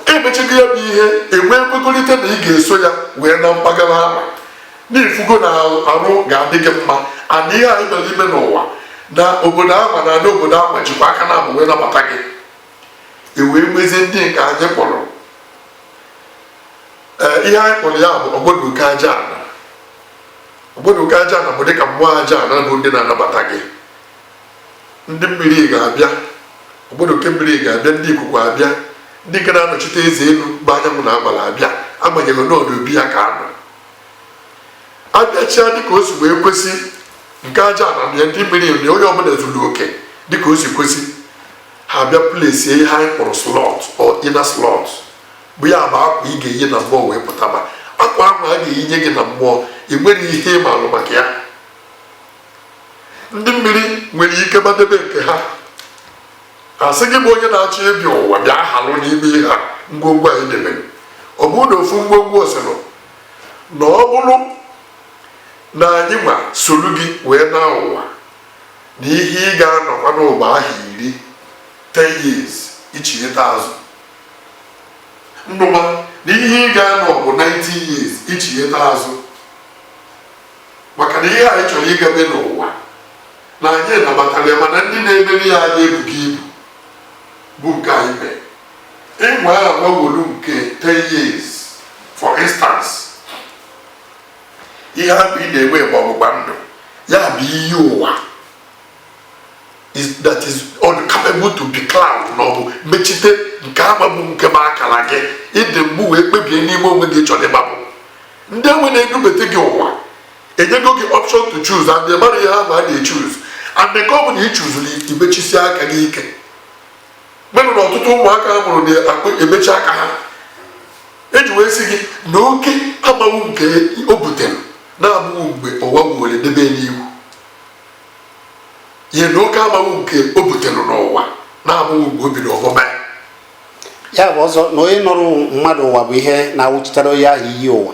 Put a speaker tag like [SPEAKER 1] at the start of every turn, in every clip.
[SPEAKER 1] emechago ya bụ ihe enwee nkwekọrịta na ị ga-eso ya wee na mpaghara ahụ n'ịfụgo na arụ ga-adị gị mma and ihe anyị bịara ime n'ụwa na obodo ahụ na ana obodo ahụ jikwa aka naabọ wee nabata gị ewee nwezie ndị nke anyị kpọrọ Eh, ihe anyị kpọrọ ya bụ ogbodoke aja ana ogbodoke aja ana bụ dịka mmụọ aja ana bụ ndị na-anabata gị ndị mmiri ga-abịa ogbodoke mmiri ga-abịa ndị ikuku abịa ndị nke na-anọchite eze enu bụ anyanwụ na agbala abịa agbanyeghị n'ọdụ obi ya ka a nọ abịachia dịka o si wee kwesị nke aja ana na ndị mmiri na onye ọbụla zuru oke dịka o si kwesị ha bịa plesie ihe anyị kpọrọ slot or inner slot bụ ya bụ akwa ị ga-eyi na mmụọ wee pụtaba akwa ahụ a ga-eyinye gị na mmụọ ị nwere ihe ị maalụ maka ya ndị mmiri nwere ike gbadebe nke ha asị gị bụ onye na-achọ ịbịa ụwa bịa halụ n'ime ihe a ngwongwo anyị debere ọ bụrụ na ofu ngwongwo ọ sịlụ na ọ bụrụ na anyị nwa soro gị wee na ụwa na ihe ị ga-anọkwa n'ụwa ahọ iri 10 years ichigheta azụ ndụma na ihe ị ga-anọ bụ 90 years ichigheta azụ maka na ihe anyị chọrọ ịga me n'ụwa na anyị nabatara ya mana ndị na-emere ya anyị ebughị ibu bụ nke anyị mee ịnwa ya gbawolu nke 10 years for instance ihe ahụ ị na-enwe bụ ọgbụgba ndụ ya bụ iyi ụwa that is uncapable to be cloud na ọ bụ mechite nke ahụ bụ nke ma akara gị ịdị mgbu wee kpebie n'ime onwe gị chọrọ ịgbapụ ndị enwe na-edubete gị ụwa enyego gị option to choose and ị mara ihe ahụ a na-echuz and nke ọ bụla ị chuzuru imechisi aka gị ike melụ na ọtụtụ ụmụaka a mụrụ na-emechi aka ha eji wee sị gị na oke agbanwu nke o butere na-abụghị mgbe ụwa were debe n'iwu ihe na oke agbanwe nke o butere n'ụwa na-abụghị mgbe o biri ọmụma
[SPEAKER 2] ya ya bụ ọzọ na onye nọrọ mmadụ ụwa bụ ihe na-awụchitere onye ahụ iyi ụwa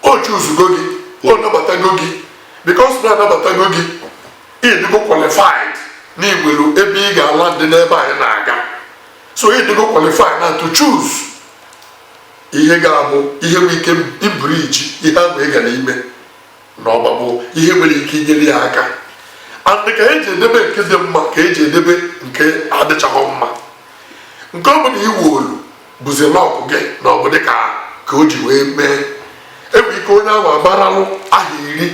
[SPEAKER 1] o chuzugo gị o nabatago gị because na anabatago gị ịdịgo qualified na iwelu ebe ị ga-ala ndị n'ebe anyị na-aga so ịdịgo qualified na to choose ihe ga-abụ ihe nwere ike ibriji ihe ahụ ị gara ime na ọba bụ ihe nwere ike inyere ya aka and ka eji edebe nke dị mma ka eji edebe nke adịchaghị mma nke ọ bụla i wolu bụzi luck gị na ọ bụ dịka ka o ji wee mee enwe ike onye ahụ agbaralụ aha iri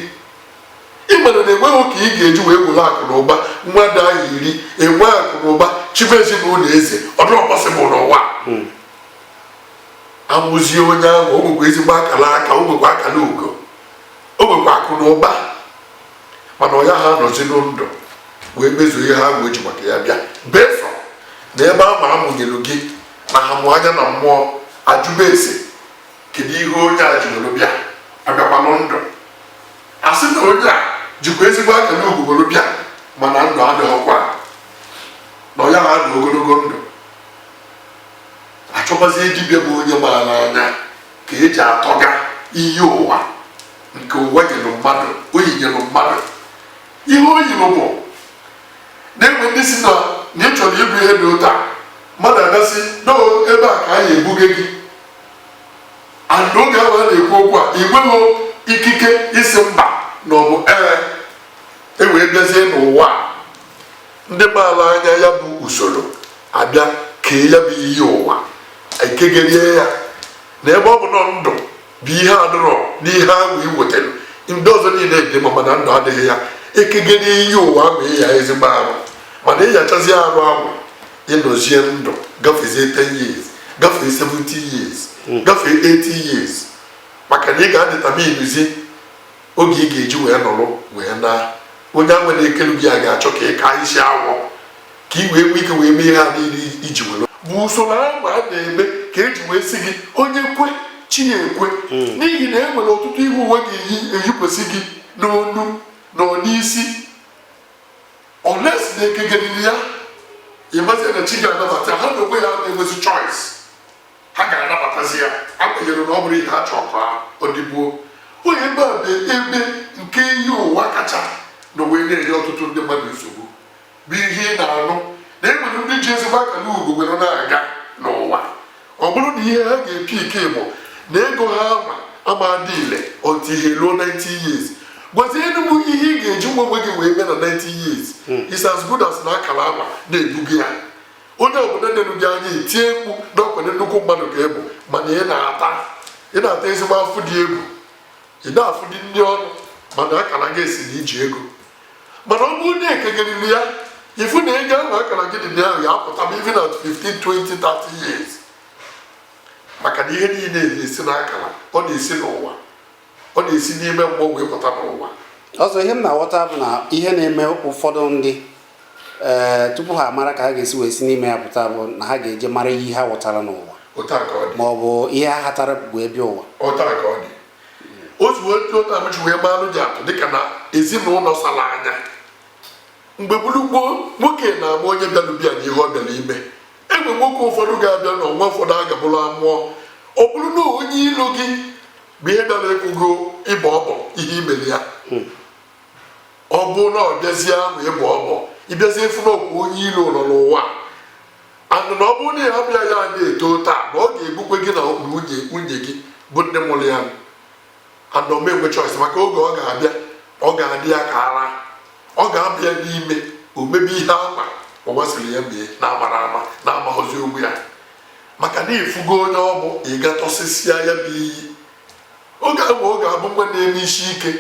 [SPEAKER 1] ị mara na enweghị ka ị ga-eji wee were akụ na ụba nwa dị aha iri enwe akụ na ụba chibe ezinụlọ eze ọ dịrọ possible n'ụwa hmm. amụzie onye ahụ o nwekwa ezigbo akara aka o nwekwa akara ugo o nwekwa akụ na ụba mana ọ yaha anọzi ndụ wee mezuo ihe ahụ o ji maka ya bịa before na ebe a ma amụnyelu gị na ha mụ anya na mmụọ ajụba ese kedu ihe onye a jiri bịa abịakwanụ ndụ a sị na onye a jikwa ezigbo akara ugo were bịa mana ndụ adịghịkwa na ọ yaha anọ ogologo ndụ achọbazie dibịa bụ onye maara anya ka eji atọga iyi ụwa nke ụwa nyere mmadụ o yinyere mmadụ ihe o yiri bụ na-enwe ndị sị na na ị chọrọ ịbụ ihe dị otu a mmadụ ga-asị no ebe a ka a na-ebuga gị and oge ahụ a na-ekwu okwu a ị nweghị ikike ịsị mba na ọ bụ ee e wee bịazie n'ụwa a. ndị maala anya ya bụ usoro a bịa kee ya bụ iyi ụwa ekegerie ya na ebe ọ bụ na ndụ bụ ihe adịrọ n'ihe ahụ i wetara ndị ọzọ niile dị mma mana ndụ adịghị ya ekegerie iyi ụwa ahụ ịya ezigbo arụ mana ịyachazi arụ ahụ ịnọzie ndụ gafezie 10 years gafee 70 years gafee 80 years maka na ị ga-adeterminezi oge ị ga-eji wee nọrọ wee na onye ahụ na-ekelu gị a ga-achọ ka ị kaa isi awọ ka ị wee nwee ike wee mee ihe niile i ji were bụ usoro ahụ a na-eme ka eji wee sị gị onye kwe chi ya ekwe hmm. n'ihi na e nwere ọtụtụ ihe ụwa ga-eyikwesị gị n'onu na n'isi unless na-ekegeriri ya ịmazi na chi ga-anabata ha na onwe ya na-enwezi choice ha ga-anabatazi ya agbanyerọ na ọ bụrọ ihe ha chọrọ ka ọ dịbuo onye ebe a bụ ebe nke iyi ụwa kacha na wee na-enye ọtụtụ ndị mmadụ nsogbu bụ ihe ị na-anụ na e nwere ndị ji ezigbo akara ugo were na-aga n'ụwa ọ bụrụ na ihe ha ga-epi ike bụ na ego ahụ ama adị ile until i ruo 90 years gwazienụ m ihe ị ga-eji nwa onwe gị wee mee na 90 years is as good as na akara ama na-ebugo ya onye obodo nelu gị anya etie mkpu na ọ kwanụ nnukwu mmadụ ka ị bụ mana ị na-ata ị na-ata ezigbo afụ dị egwu ị na-afụ dị ndị ọnụ mana akara gị sị na i ji ego mana ọ bụrụ na ekegeriri ya ị fụ na ego ahụ akara gị dị na ahụ ya apụta ma even at 15 20 30 years maka na ihe niile na-esi n'akara ọ na-esi n'ụwa ọ na-esi n'ime mmụọ wee pụta n'ụwa ọzọ ihe m
[SPEAKER 2] na-aghọta bụ na ihe na-eme ụfọdụ ndị ee eh, tupu ha mara ka ha ga-esi wee si n'ime ya pụta bụ na ha ga-eje mara ihe ha ghọtara n'ụwa ma ọ bụ ihe ha hatara wee bịa ụwa otu
[SPEAKER 1] otu amụchi wee maalụ ji atụ dịka na ezinụlọ sara anya mgbe gboo gboo nwoke na-ama onye bịara be ya na ihe ọ bịara ime enwe nwoke ụfọdụ ga-abịa na ọnwa ụfọdụ a gabụrụ amụọ ọ bụrụ na onye ilo gị bụ ihe bịara ekwugo ịbọ ọbọ ihe i mere ya hmm. ọ bụ na ọ bịazie ahụ ịbọ ọbọ ị bịazie afụ na ọkwa onye ilo nọ n'ụwa and na ọ bụrụ na ya bịa ya na-eto taa na ọ ga-egbukwe gị na nwunye gị bụ ndị mụrụ ya and ọ ma enwe choice maka oge ọ ga-abịa ọ ga-adị ya ka ara ọ ga-aba ya n'ime o mebe ihe ama a gwasiri ya mee na-amara ama na-amaghọzi onwe ya maka na ị fụgo onye ọ bụ ị ga-atọsịsịa ya bụ iyi oge ahụ ọ ga-abụ nwa na-eme isi ike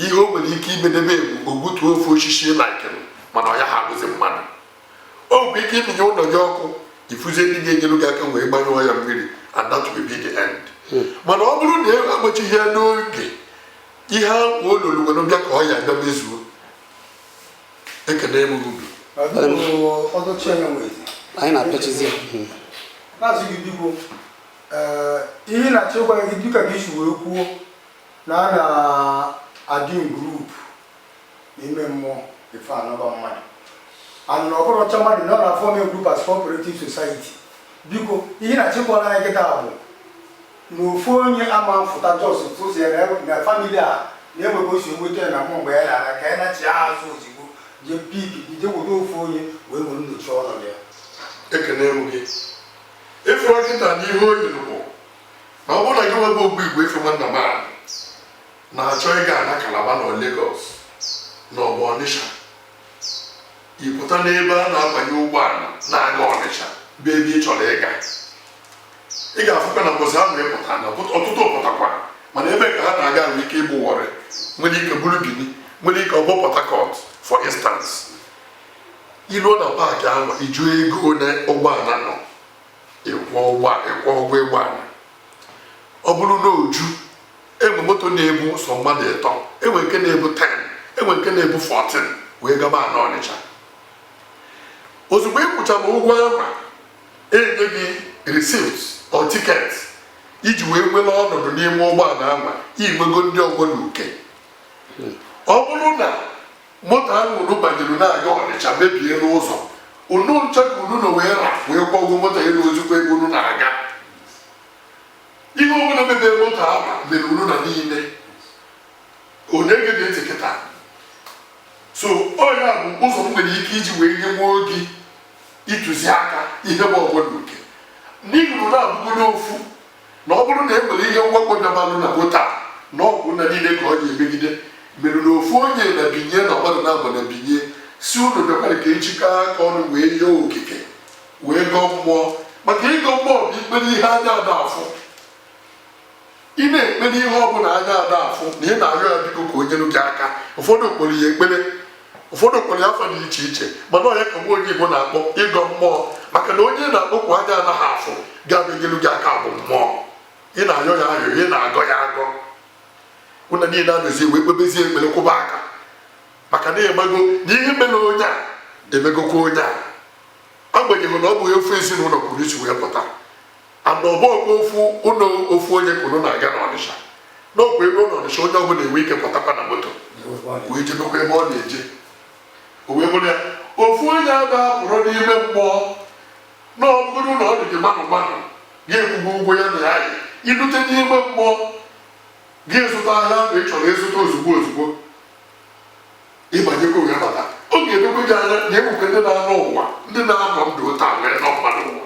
[SPEAKER 1] ihe o nwere ike imedebe egwu o gbutuo ofu osisi laikere mana ọ ya-ahapụzi mmadụ o nwere ike ịmụnye ụlọ gị ọkụ ị fụzie ndị ga-enyere gị aka wee gbanyụọ ya mmiri and that will be the end hmm. mana ọ bụrụ na e agbachighị ya n'oge ihe ahụ o loro were bịa ka ọ ya-abịa mezuo ekele m
[SPEAKER 2] unu anyị
[SPEAKER 3] na-apịachizi na-asị gị biko ihe m na-achọ ịgwa gị dịka ka i si wee kwuo na a na-adị group n'ime mmụọ ife anọba mmadụ and ọ bụrụ ọcha mmadụ na ọ na-aform group as cooperative society biko ihe m na-achọ ikwu na ya kịta bụ na ofu onye ama afụta just tụziere na family a na-enwebe osi nweta ya na mmụọ mgbe ya na-ala ka ya nachi azụ ozigbo jee pick jee weta ofu onye wee were nnochi ọnọdụ ya ekene m
[SPEAKER 1] gị ị fụrụ kịta na ihe o yi bụ na ọ bụrụ na gị nwebe ogbu igbo ife nwanna m ahụ na-achọ ịga na Calabar na Lagos ma ọ bụ Ọnịsha ị pụta n'ebe a na-abanye ụgbọala na-aga Ọnịsha bụ ebe ị chọrọ ịga ị ga-afụkwa na mbọsị ahụ ị pụta na ọtụtụ pụtakwa mana ebe ka ha na-aga nwere ike ịbụ Warri nwere ike bụrụ Benin nwere ike ọ bụ Port Harcourt for instance i ruo na park ahụ ị jụọ ego ole ụgbọala nọ ị kwụọ ụgwọ ụgbọala ọ bụrụ na o ju enwe moto na-ebu sọ mmadụ ịtọ enwe nke na-ebu 10 enwe nke na-ebu 14 wee gaba na Ọnịcha ozugbo ị kwụchara ụgwọ ahụ enye gị receipt or ticket iji wee nwere ọnọdụ n'ime ụgbọala ahụ inwego ndị ọgbọ na uke ọ bụrụ na moto ahụ unu banyere na-aga ọnịcha mebie n'ụzọ unu ncha ka unu na wee ra wee kwụọ ụgwọ moto elu ozugbo ebe unu na-aga ihe ọbụla mebie moto ahụ mere unu na niile onye gee ntị kịta so ọ ya bụ ụzọ m nwere ike iji wee nye nwa oge ntụziaka ihe bụ ọgbọ na uke n'ihi na unu abụgo n'ofu na ọ bụrụ na e nwere ihe mwakpo dabalụ na moto na ọ bụ unu niile ka ọ ya emegide mere na ofu onye na binye na mmadụ naabọ na binye si unu bịakwara ka ejikọ aka ọnụ wee yịọ okike wee gọọ mmụọ maka ịgọ mmụọ bụ ikpere ihe anya ada afụ ị na-ekpere ihe ọ bụla anya ada afụ na ị na-arịọ ya biko ka o nyere gị aka ụfọdụ kpọrọ ya ekpere ụfọdụ kpọrọ ya afa dị iche iche mana ọya ka nwa onye Igbo na-akpọ ịgọ mmụọ maka na onye ị na-akpọku anya anaghị afụ ga-abịa nyere gị aka bụ mmụọ ị na-arịọ ya arịọ ị na-agọ ya agọ unu niile abịazie wee kpebezie ekpere kwụba aka maka na amago na ihe mere onye a emegokwa onye a agbanyeghị na ọ bụghị ofu ezinụlọ ka unu si wee pụta ana ọ bụrọkwa ofu ụlọ ofu onye ka unu na-aga n'ọnịsha n'ofu ebe n'ọnịsha onye ọbụla enwe ike pụtakwa na moto wee jebekwa ebe ọ na-eje o wee bụrụ ya ofu onye aba pụrụ n'ime mmụọ na ọ bụrụ na ọ dị gị mmanụ mmanụ gị akwụọ ụgwọ ya na ya yi ilute n'ime mmụọ gị zụta ahịa ahụ ị chọrọ ịzụta ozugbo ozugbo ịbanyekwa wee bata ọ ga-edokwe gị anya na enwekwe ndị na-anọ ụwa ndị na-anọ ndụ ụta wee nọ mmadụ ụwa